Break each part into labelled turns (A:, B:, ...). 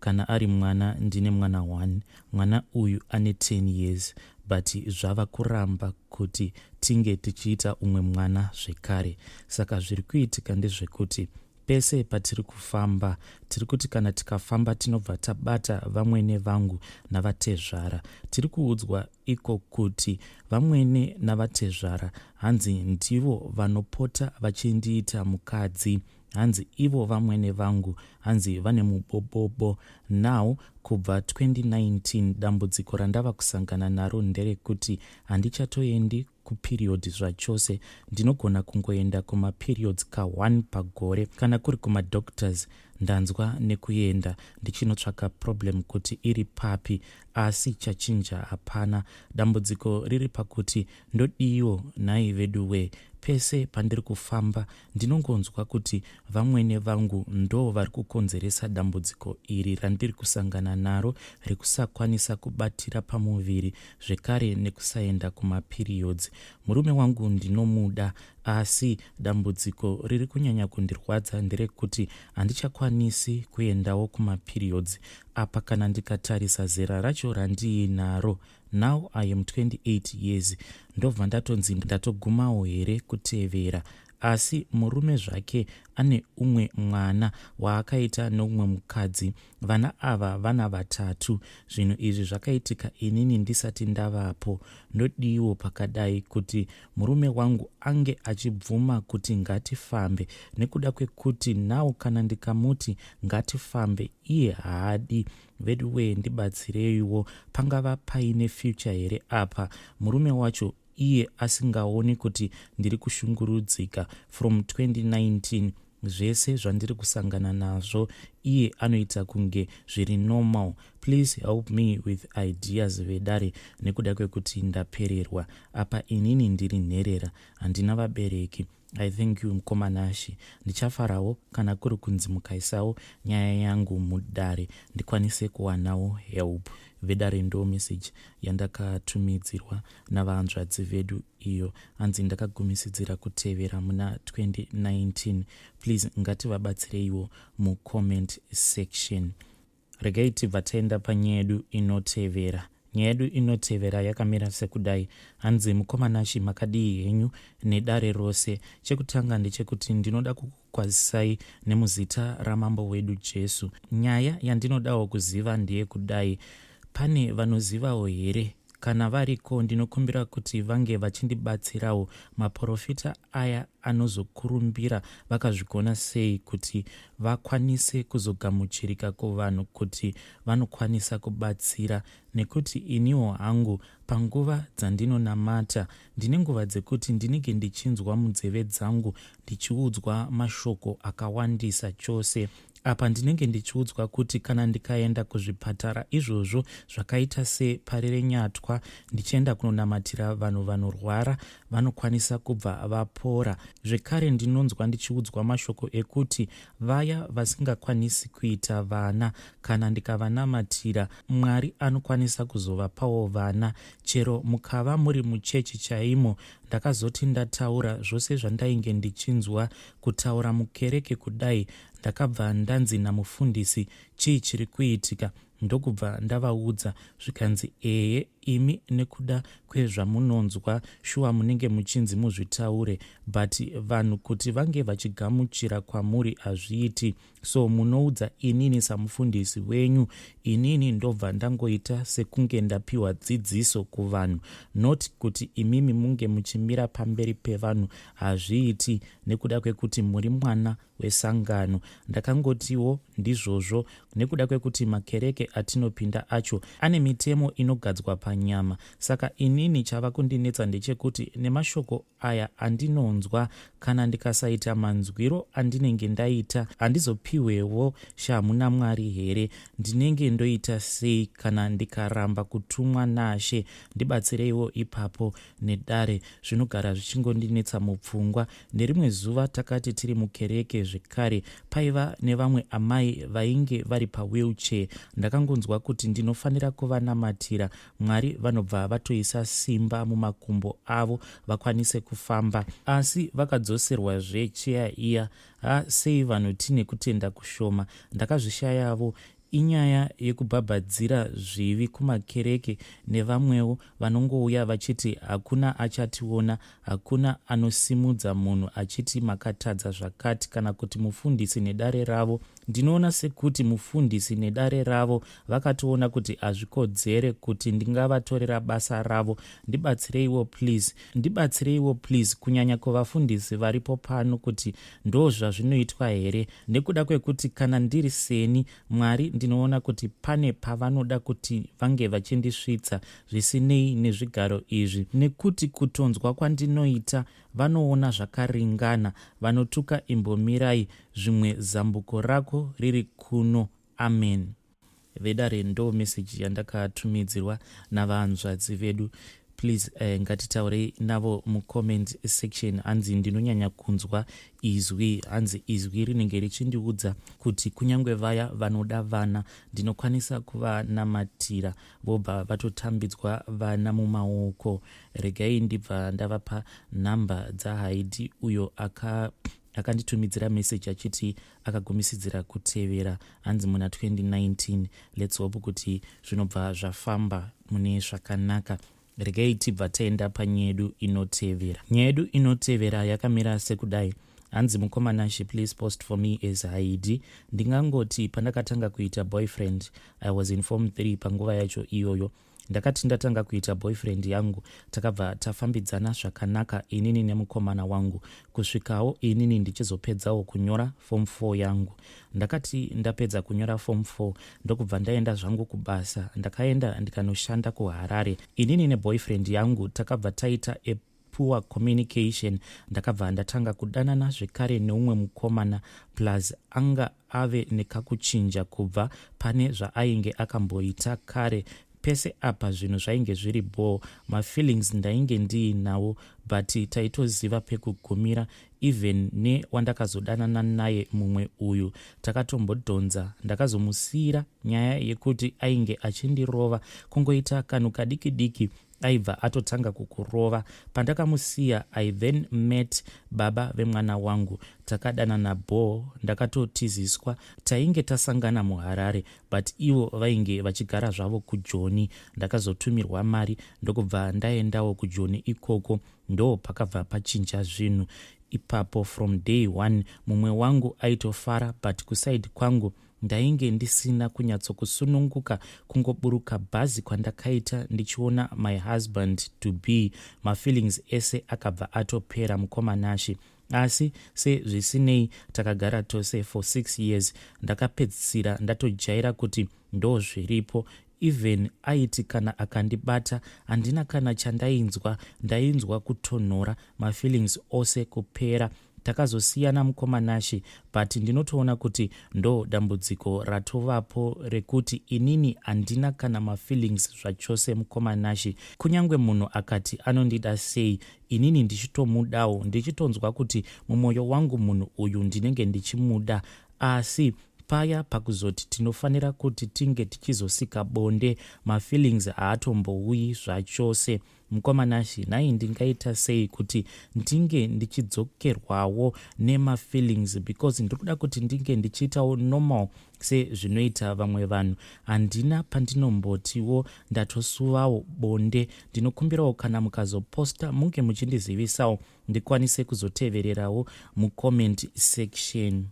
A: kana ari mwana ndine mwana one mwana uyu ane 10 years but zvava kuramba kuti tinge tichiita umwe mwana zvekare saka zviri kuitika ndezvekuti pese patiri kufamba tiri kuti kana tikafamba tinobva tabata vamwene vangu navatezvara tiri kuudzwa iko kuti vamwene navatezvara hanzi ndivo vanopota vachindiita mukadzi hanzi ivo vamwene vangu hanzi vane mubobobo now kubva 2019 dambudziko randava kusangana naro nderekuti handichatoendi kuperiod zvachose ndinogona kungoenda kumaperiods ka1 pagore kana kuri kumadoctors ndanzwa nekuenda ndichinotsvaka problem kuti iri papi asi chachinja hapana dambudziko riri pakuti Ndodiiwo nhai veduwee pese pandiri kufamba ndinongonzwa kuti vamwene vangu ndoo vari kukonzeresa dambudziko iri randiri kusangana naro rekusakwanisa kubatira pamuviri zvekare nekusaenda kumapiriyodzi. Murume wangu ndinomuda asi dambudziko riri kunyanya kundirwadza nderekuti handichakwanisi kuendawo kumapiriyodzi apa kana ndikatarisa zera racho randiinaro now i am 28 years ndobva ndatonzi ndatogumawo here kutevera asi murume zvake ane umwe mwana waakaita neumwe mukadzi vana ava vana vatatu zvinhu izvi zvakaitika inini ndisati ndavapo ndodiiwo pakadai kuti murume wangu ange achibvuma kuti ngatifambe nekuda kwekuti nawo kana ndikamuti ngatifambe iye haadi Veduwee ndibatsireiwo pangava paine future here apa murume wacho iye asingaoni kuti ndiri kushungurudzika from 2019 zvese zvandiri kusangana nazvo iye anoita kunge zviri normal please help me with ideas vedare nekuda kwekuti ndapererwa apa inini ndiri nherera handina vabereki I thank you mkoma Nashy. Ndichafarawo kana kuri kunzi mukaisawo nyaya yangu mudare ndikwanise kuwanawo help. Vedare ndo message yandakatumidzirwa navahanzvadzi vedu iyo anzi ndakagumisidzira kutevera muna 2019. Please ngativabatsireiwo mucomment section. Regai tibva taenda panyaya yedu inotevera. Nyaya yedu inotevera yakamira sekudai. Hanzi mukoma Nashi makadii henyu nedare rose. Chekutanga ndechekuti ndinoda kukukwazisai nemuzita ramambo wedu Jesu. Nyaya yandinodawo kuziva ndeyekudai. Pane vanozivawo here Kana variko ndinokumbira kuti vange vachindibatsirawo. Maporofita aya anozokurumbira vakazvigona sei kuti vakwanise kuzogamuchirika kuvanhu kuti vanokwanisa kubatsira nekuti iniwo hangu panguva dzandinonamata ndine nguva dzekuti ndinenge ndichinzwa munzeve dzangu ndichiudzwa mashoko akawandisa chose apa ndinenge ndichiudzwa kuti kana ndikaenda kuzvipatara izvozvo zvakaita separi renyatwa ndichienda kunonamatira vanhu vanorwara vanokwanisa kubva vapora zvekare ndinonzwa ndichiudzwa mashoko ekuti vaya vasingakwanisi kuita vana kana ndikavanamatira mwari anokwanisa kuzovapawo vana chero mukava muri muchechi chaimo ndakazoti ndataura zvose zvandainge ndichinzwa kutaura mukereke kudai Ndakabva ndanzi namufundisi chii chiri kuitika ndokubva ndavaudza zvikanzi ehe imi nekuda kwezvamunonzwa shuwa munenge muchinzi muzvitaure but vanhu kuti vange vachigamuchira kwamuri hazviiti so munoudza inini samufundisi wenyu inini ndobva ndangoita sekunge ndapiwa dzidziso kuvanhu not kuti imimi munge muchimira pamberi pevanhu hazviiti nekuda kwekuti muri mwana wesangano ndakangotiwo ndizvozvo nekuda kwekuti makereke atinopinda acho ane mitemo inogadzwa panyama saka inini chava kundinetsa ndechekuti nemashoko aya andinonzwa kana ndikasaita manzwiro andinenge ndaita handizopiwewo shamhu namwari here ndinenge ndoita sei kana ndikaramba kutumwa nashe ndibatsireiwo ipapo nedare zvinogara zvichingondinetsa mupfungwa Nerimwe zuva takati tiri mukereke zvekare, paiva nevamwe amai vainge vari pawheelchair. Ndakangonzwa kuti ndinofanira kuvanamatira Mwari vanobva vatoisa simba mumakumbo avo vakwanise kufamba. Asi vakadzoserwazve cheya iya. Ha, sei vanhu tine kutenda kushoma. Ndakazvishayavo Inyaya yekubhabhadzira zvivi kumakereke nevamwewo vanongouya vachiti hakuna achationa, hakuna anosimudza munhu achiti makatadza zvakati kana kuti mufundisi nedare ravo. Ndinoona sekuti mufundisi nedare ravo vakatoona kuti hazvikodzere kuti ndingavatorera basa ravo. Ndibatsireiwo please. Ndibatsireiwo please kunyanya kuvafundisi varipo pano kuti Ndozvazvinoitwa here? Nekuda kwekuti kana ndiri seni, Mwari ndinoona kuti pane pavanoda kuti vange vachindisvitsa, zvisinei nezvigaro izvi. Nekuti kutonzwa kwandinoita, vanoona zvakaringana. Vanotuka Imbomirai, zvimwe zambuko rako riri kuno. Ameni. vedare ndo message yandakatumidzirwa navanzvadzi vedu please uh, ngatitaurei navo mucomment section hanzi ndinonyanya kunzwa izwi hanzi izwi rinenge richindiudza kuti kunyange vaya vanoda vana ndinokwanisa kuvanamatira vobva vatotambidzwa vana mumaoko regai ndibva ndavapa nhamba dzahaidi uyo aka akanditumidzira message achiti akagumisidzira kutevera hanzi muna 2019 lets hope kuti zvinobva zvafamba mune zvakanaka regai tibva taenda panyedu inotevera nyedu inotevera yakamira sekudai hanzi mukomana she please post for me as haidi ndingangoti pandakatanga kuita boyfriend i was in form 3 panguva yacho iyoyo ndakati ndatanga kuita boyfriend yangu takabva tafambidzana zvakanaka inini nemukomana wangu kusvikawo inini ndichizopedzawo kunyora form 4 yangu ndakati ndapedza kunyora form 4 ndokubva ndaenda zvangu kubasa ndakaenda ndikanoshanda kuharare inini neboyfriend yangu takabva taita a poor communication ndakabva ndatanga kudanana zvekare neumwe mukomana plus anga ave nekakuchinja kubva pane zvaainge akamboita kare pese apa zvinhu zvainge zviri bhoo mafeelings ndainge ndiinawo but taitoziva pekugumira even newandakazodanana naye mumwe uyu takatombodhonza ndakazomusiyira nyaya yekuti ainge achindirova kungoita kanhu kadiki diki aibva atotanga kukurova pandakamusiya i then met baba vemwana wangu takadanana bhoo ndakatotiziswa tainge tasangana muharare but ivo vainge vachigara zvavo kujoni ndakazotumirwa mari ndokubva ndaendawo kujoni ikoko ndo pakabva pachinja zvinhu ipapo from day one mumwe wangu aitofara but kusaidi kwangu Ndainge ndisina kunyatsokusununguka kungoburuka bhazi kwandakaita ndichiona my husband to be. Mafeelings ese akabva atopera mukoma Nashy. Asi se zvisinei takagara tose for six years ndakapedzisira ndatojaira kuti ndozviripo even aiti kana akandibata handina kana chandainzwa ndainzwa kutonhora mafeelings ose kupera Takazosiyana mukoma Nashe but ndinotoona kuti ndo dambudziko ratovapo rekuti inini handina kana mafeelings zvachose mukoma Nashe. Kunyangwe munhu akati anondida sei inini ndichitomudawo ndichitonzwa kuti mumoyo wangu munhu uyu ndinenge ndichimuda asi paya pakuzoti tinofanira kuti tinge tichizosika bonde mafeelings haatombouyi zvachose. Mukoma Nashi, nhai ndingaita sei kuti ndinge ndichidzokerwawo nemafeelings because ndiri kuda kuti ndinge ndichiitawo normal sezvinoita vamwe vanhu. Handina pandinombotiwo ndatosuvawo bonde. Ndinokumbirawo kana mukazoposta munge muchindizivisawo ndikwanise kuzotevererawo mucomment section.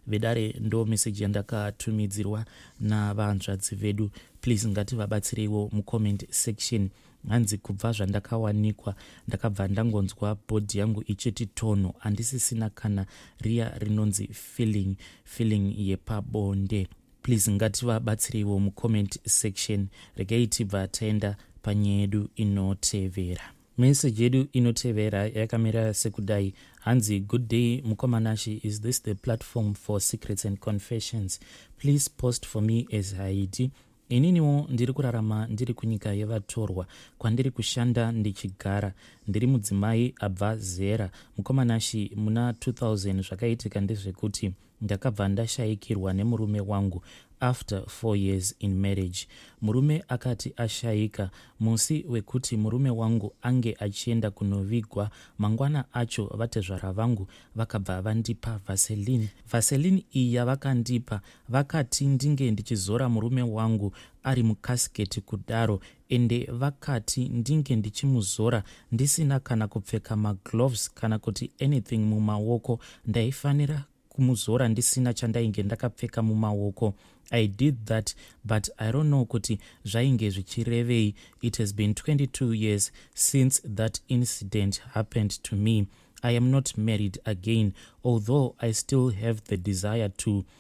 A: vedare ndo message yandakatumidzirwa navanzvadzi vedu please ngativabatsireiwo mucomment section hanzi kubva zvandakawanikwa ndakabva ndangonzwa bhodhi yangu ichiti tonho handisisina kana riya rinonzi feeling feeling yepabonde please ngativabatsireiwo mucomment section regai tibva taenda panyaya yedu inotevera Message yedu inotevera yakamira sekudai hanzi good day mukoma Nashy is this the platform for secrets and confessions please post for me as Haiti ininiwo ndiri kurarama ndiri kunyika yevatorwa kwandiri kushanda ndichigara ndiri mudzimai abva zera mukoma Nashy muna 2000 zvakaitika ndezvekuti Ndakabva ndashayikirwa nemurume wangu after four years in marriage. Murume akati ashayika musi wekuti murume wangu ange achienda kunovigwa mangwana acho vatezvara vangu vakabva vandipa vaseline. Vaseline iyi yavakandipa vakati ndinge ndichizora murume wangu ari mukasiketi kudaro Ende vakati ndinge ndichimuzora ndisina kana kupfeka magloves kana kuti anything mumaoko ndaifanira kumuzora ndisina chandainge ndakapfeka mumaoko I did that but I don't know kuti zvainge zvichirevei it has been 22 years since that incident happened to me I am not married again although I still have the desire to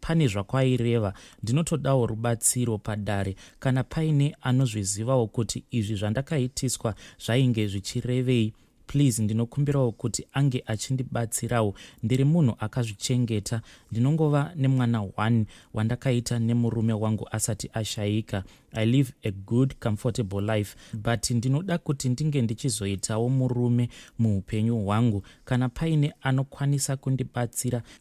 A: pane zvakwaireva ndinotodawo rubatsiro padare kana paine anozvizivawo kuti izvi zvandakaitiswa zvainge zvichirevei please ndinokumbirawo kuti ange achindibatsirawo ndiri munhu akazvichengeta ndinongova nemwana one wandakaita nemurume wangu asati ashayika i live a good comfortable life but ndinoda kuti ndinge ndichizoitawo murume muupenyu hwangu kana paine anokwanisa kundibatsira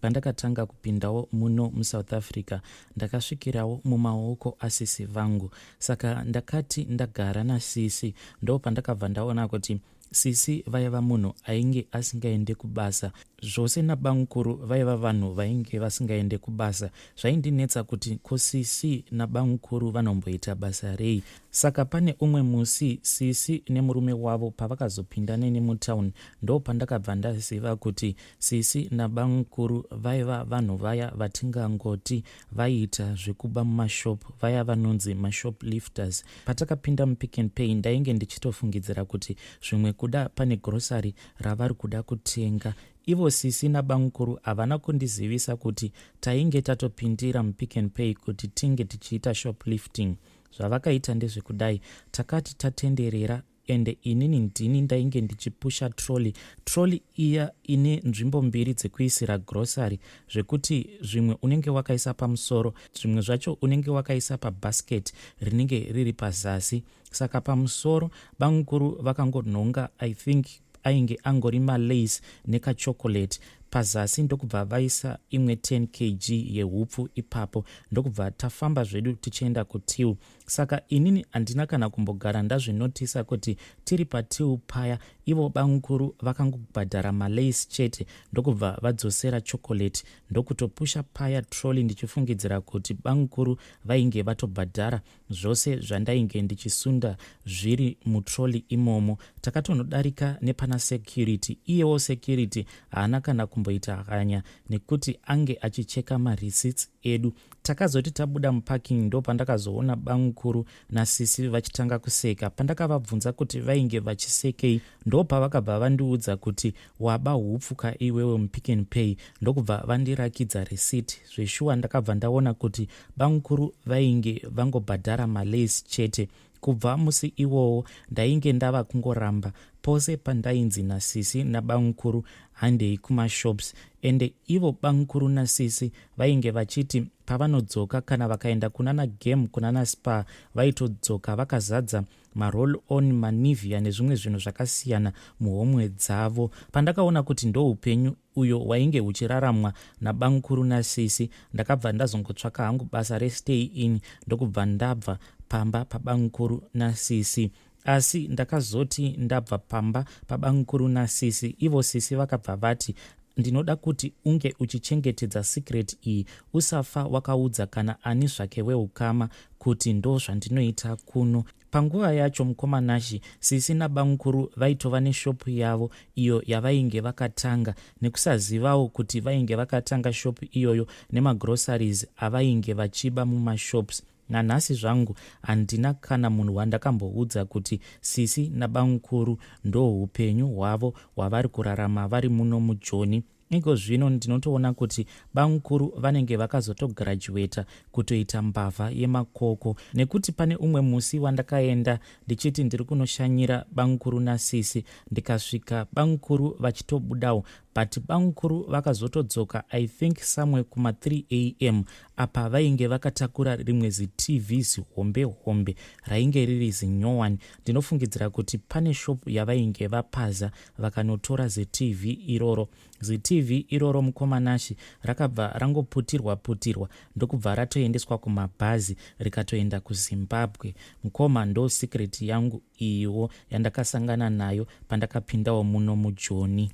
A: Pandakatanga kupindawo muno muSouth Africa ndakasvikirawo mumaoko asisi vangu saka ndakati ndagara nasisi ndo pandakabva ndaona kuti sisi vaiva munhu ainge asingaende kubasa zvose nabamukuru vaiva vanhu vainge vasingaende kubasa zvaindinetsa kuti ko sisi nabamukuru vanomboita basa rei saka pane umwe musi sisi nemurume wavo pavakazopinda neni mutown ndo pandakabva ndaziva kuti Sisi nabamukuru vaiva vanhu vaya vatingangoti vaiita zvekuba mumashop vaya vanonzi mashop lifters. Patakapinda mupick and pay ndainge ndichitofungidzira kuti zvimwe kuda pane grocery ravari kuda kutenga. Ivo sisi nabamukuru havana kundizivisa kuti tainge tatopindira mupick and pay kuti tinge tichiita shoplifting. Zvavakaita ndezvekudai takati tatenderera ende inini ndini ndainge ndichipusha trolley trolley iya ine nzvimbo mbiri dzekuisira grocery zvekuti zvimwe unenge wakaisa pamusoro zvimwe zvacho unenge wakaisa pabasket rinenge riri pazasi saka pamusoro bamukuru vakangonhonga i think ainge angori malace nekachocolate pazasi ndokubva vaisa imwe 10 kg yehupfu ipapo ndokubva tafamba zvedu tichienda kutil saka inini handina kana kumbogara ndazvinotisa kuti tiri patiu paya ivo bamukuru vakangobhadhara malace chete ndokubva vadzosera chocolate ndokutopusha paya trolly ndichifungidzira kuti bamukuru vainge vatobhadhara zvose zvandainge ndichisunda zviri mutrolly imomo takatonodarika nepana security iyewo security haana kana kumboita hanya nekuti ange achicheka mareceipts edu. Takazoti tabuda muparking ndopandakazoona bamukuru nasisi vachitanga kuseka. Pandakavabvunza kuti vainge vachisekei ndopavakabva vandiudza kuti waba hupfuka iwewe mupick and pay ndokubva vandirakidza receipt. Zveshuwa ndakabva ndaona kuti bamukuru vainge vangobhadhara malace chete. Kubva musi iwowo ndainge ndava kungoramba pose pandainzi nasisi nabamukuru handei kumashops ende ivo bamukuru nasisi vainge vachiti pavanodzoka kana vakaenda kunana game kunana spar vaitodzoka vakazadza maroll on manivia nezvimwe zvinhu zvakasiyana muhomwe dzavo pandakaona kuti ndoupenyu uyo wainge uchiraramwa nabamkuru nasisi ndakabva ndazongotsvaka hangu basa restay in ndokubva ndabva pamba pabamkuru nasisi asi ndakazoti ndabva pamba pabamkuru nasisi ivo sisi vakabva vati ndinoda kuti unge uchichengetedza secret iyi usafa wakaudza kana ani zvake weukama kuti ndozvandinoita kuno Panguva yacho mukoma Nashy, sisi nabamukuru vaitova neshop yavo iyo yavainge vakatanga nekusazivawo kuti vainge vakatanga shop iyoyo nemagroceries avainge vachiba mumashops. Nanhasi zvangu handina kana munhu wandakamboudza kuti sisi nabamukuru ndohupenyu hwavo hwavari kurarama vari muno mujoni. Iko zvino ndinotoona kuti bamukuru vanenge vakazotogirajuweta kutoita mbavha yemakoko nekuti pane umwe musi wandakaenda ndichiti ndiri kunoshanyira bamukuru nasisi ndikasvika bamukuru vachitobudawo but bamukuru vakazotodzoka i think somewhere kuma 3 am apa vainge vakatakura rimwe zitv zihombe hombe rainge riri zinyowani ndinofungidzira kuti pane shop yavainge vapaza vakanotora zitv iroro. Zitv iroro mukoma Nashy rakabva rangoputirwa putirwa ndokubva ratoendeswa kumabhazi rikatoenda kuZimbabwe. Mukoma ndo secret yangu iyiwo yandakasangana nayo pandakapindawo muno mujoni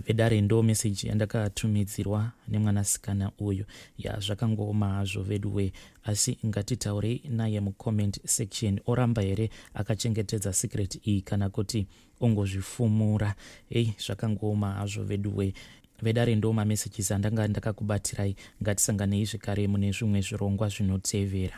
A: vedare ndo message yandakatumidzirwa nemwanasikana uyu ya zvakangooma hazvo veduwee asi ngatitaurei naye mucomment section oramba here akachengetedza secret iyi kana kuti ongozvifumura hei zvakangooma hazvo veduwe vedare ndo mamessages andanga ndakakubatsirai ngatisanganei zvekare mune zvimwe zvirongwa zvinotevera